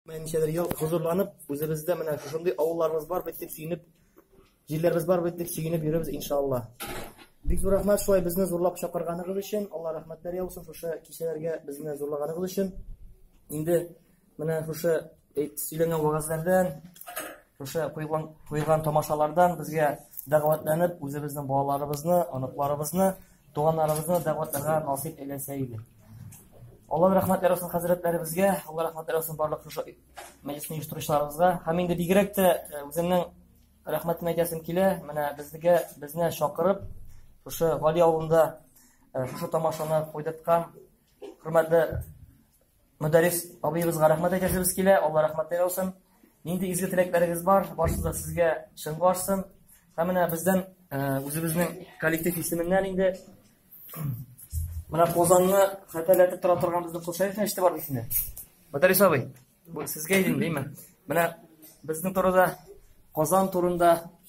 Менә ничәдер ел хозурланып, үзебездә менә шушындый авылларыбыз бар бит дип сөенеп, җирләребез бар бит дип сөенеп йөрибез иншалла. Бик зур рәхмәт шулай безне зурлап чакырганыгыз өчен. Алла рәхмәтләр яусын шушы кичәләргә безне зурлаганыгыз өчен. Инде менә шушы сөйләнгән вагазлардан Шушы куйган, куйган тамашалардан безгә дәгъвәтләнеп, үзебезнең балаларыбызны, оныкларыбызны, туганнарыбызны дәгъвәтләргә насыйп әйләсә иде. Аллаһ рәхмәт ярасын хәзрәтләребезгә, Аллаһ рәхмәт ярасын барлык шушы мәҗлисне оештыручыларыбызга. Һәм инде бигрәк тә э, үземнең рәхмәтен әйтәсем килә, менә безгә безне чакырып, шушы Гали авылында э, шушы тамашаны куйдырткан хөрмәтле Мөдәррис абыебызга рәхмәт әйтәсебез килә, Алла рәхмәтле яусын. Нинди изге теләкләрегез бар, барысы да сезгә чын барсын. Һәм менә бездән үзебезнең коллектив исеменнән инде менә Казанны хәтерләтеп тора торган безнең Кошаевны ишетеп бардык инде. Мөдәррис абый, бу сезгә идем, димме? Менә безнең турыда Казан турында